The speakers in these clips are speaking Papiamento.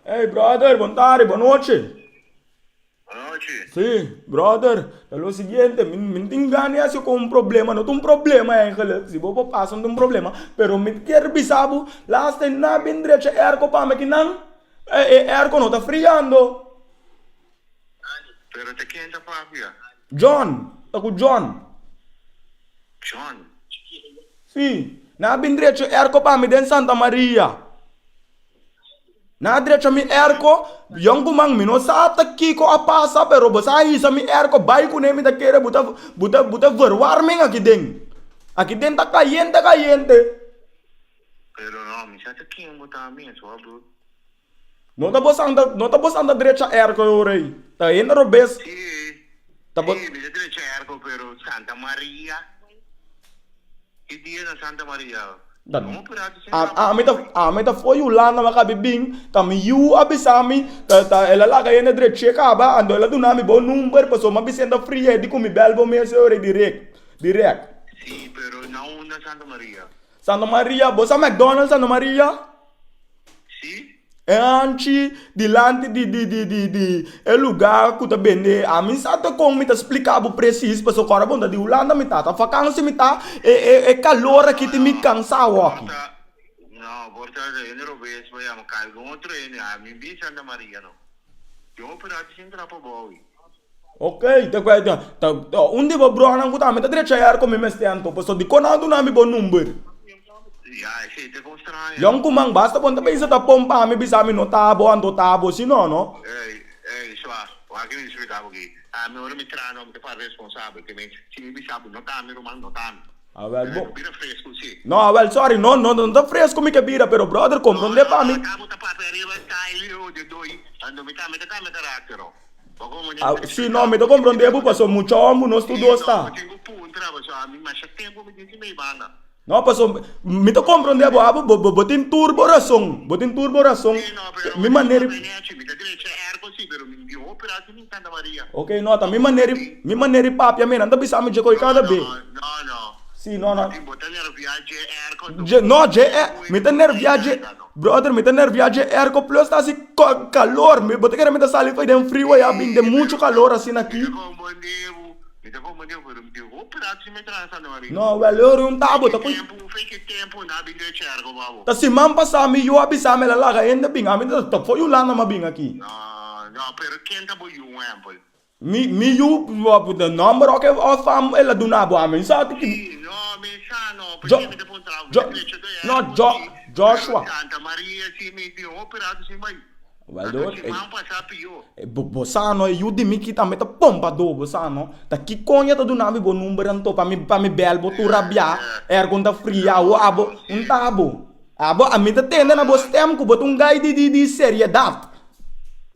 Ey brother bon tarde bon noche Bon noche si brother ta lo siguiente mi mi no tin gana di haciu con un problema no ta un problema eigenlijk si bo por pasa no ta un problema pero mi ta kier bisa bo lasta e nan a bin drecha e airco pa mi kinan e airco no ta friando Pero te ken ta papia? John, ta ku John. John. Si, nan a bin drecha erko pa mi den Santa Maria. Nan a drecha mi erko, Yon ku man mi no sa ta kiko a pasa, pero bo sa a hisa mi erko bai kuné, mi ta kere bo ta bo ta bo ta verwar men aki den. Aki den ta kayente kayente. Pero no, mi sa ta ken bo ta mes hoor broer. No ta bos anda no ta bos anda drecha erko e ora ei ta henda robes Si ta bos. Si mester drecha erko pero Santa Maria ki dia na Santa Maria no a purado sin a a ami ta trabajo ami ta for Yulanda mi a kabe bin ta mi yu a bisa mi ta ta el a laga hende dreche kaba anto el a duna mi bo number paso mi a bisa hende friye di ku mi bel bo mes e ora ei direk direk. Si pero nan un na Santa Maria. Santa Maria, bo sa McDonald's Santa Maria? Sí. E hanchi dilanti di di di di di e lugá ku ta bende, ami sa ta kon mi ta splika bo presis pasobra kor a bo ta di Hulanda mi ta ta fakansi mi ta e e e kalor aki tin mi kansá hopi. No no no por ta no por ta ta hende robes bo yama kaiba un otro hende ami bisa Santa Maria no. Yo operá ti sin trapa bo awi. Ok ta cuetion ta un di bo bronan cu tambe ta drecha yara con mi mester anto pasobra dicon nan a duna mi bo number John Kuman basta con ta bisa ta pon pa mi bisa mi no ta abo anto ta abo si no no Awel bo No Awel sorry no no no ta fresco mi ke bira pero brother comprende pa mi Si no, mi ta komprondé bo paso mucha hora bo no sta dos ta. No paso mi ta komprondé bo abo bo tin tur bo rason, bo tin tur bo rason mi manera di ok no ta mi manera di mi manera di papia mi nan ta bisa mi dje koe kada be si no no dje mi ta nervia dje. Brother mi ta nervia dje airco plus ta haci calor mi bo ta kere mi ta sali fo'i den frio ya bin den mucho calor asina aki. No wel yo run ta bo ta cu ta siman pasa mi yo a bisa mel a laga hende bin ami ta ta fo'i Hulanda ma bin aki. Mi yu lo a puntra number oca of am el a duna bo ami sa ti ki. No mi sa no pasobra mi ta puntra bo mi ta creecha do e aña por si Joshua Santa Maria si mi tin hopi rato sin bai a do siman pasa pior. Bo sa no e yu di mi ki tambe ta pompa do bo sa no ta ki coña ta duna mi bo number anto pa mi pa mi bel bo tur rabia air con ta fria o abo un ta abo abo ami ta tende na bo stem cu bo ta un guy di di di seriedad.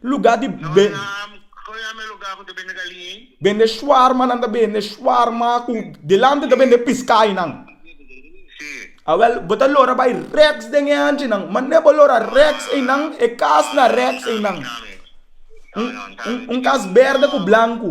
Lugar di bende shuarma nan ta bende shuarma cu delante ta bende piscai nan awel bo ta lora bai rex den e anchi nan mane bo lora rex ey nan e cas na rex ey nan un cas berde cu blanco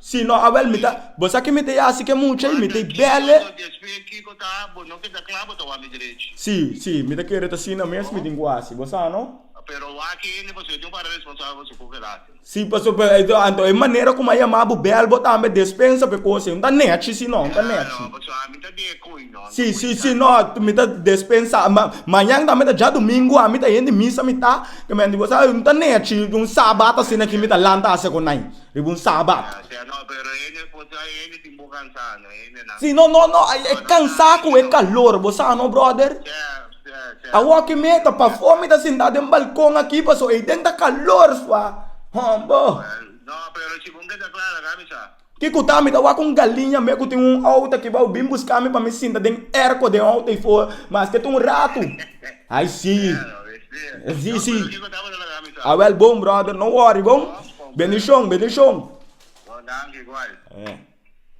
Si no awel mi ta. Bo sa ki mi ta yasi ke mucha y mi ta bele. Si, si, mi ta kere ta asina mes mi tin ku hasi. Bo sa no? Si, paso bo, anto e manera kuma a yama bo bel bo tambe despensa pa e kos ei. N ta nechi si no, N ta nechi. Si, si, si, no, mi ta despensa. Ma, mañan tambe ta djadumingu, ami ta hende misa mi ta. Tamenti bo sa, N ta nechi un sabat asina ki mi ta lanta hasi ekonai. Riba un Sabat. Si no, no, no, e cansá cu e calor, bo sa no, brother? Awor cu mi ta pafó mi ta sintá den balcon aki pasobra ei den ta calor sua. Hombre. Kico ta? Mi ta wak un galiña mei cu tin un auto aki bao bin buscá mi pa mi sinta den airco den auto ei for, mas ke ta un rato. Ai si. Si si. Awel bon brother no worry bon. Bendición bendición. Bon danki igual.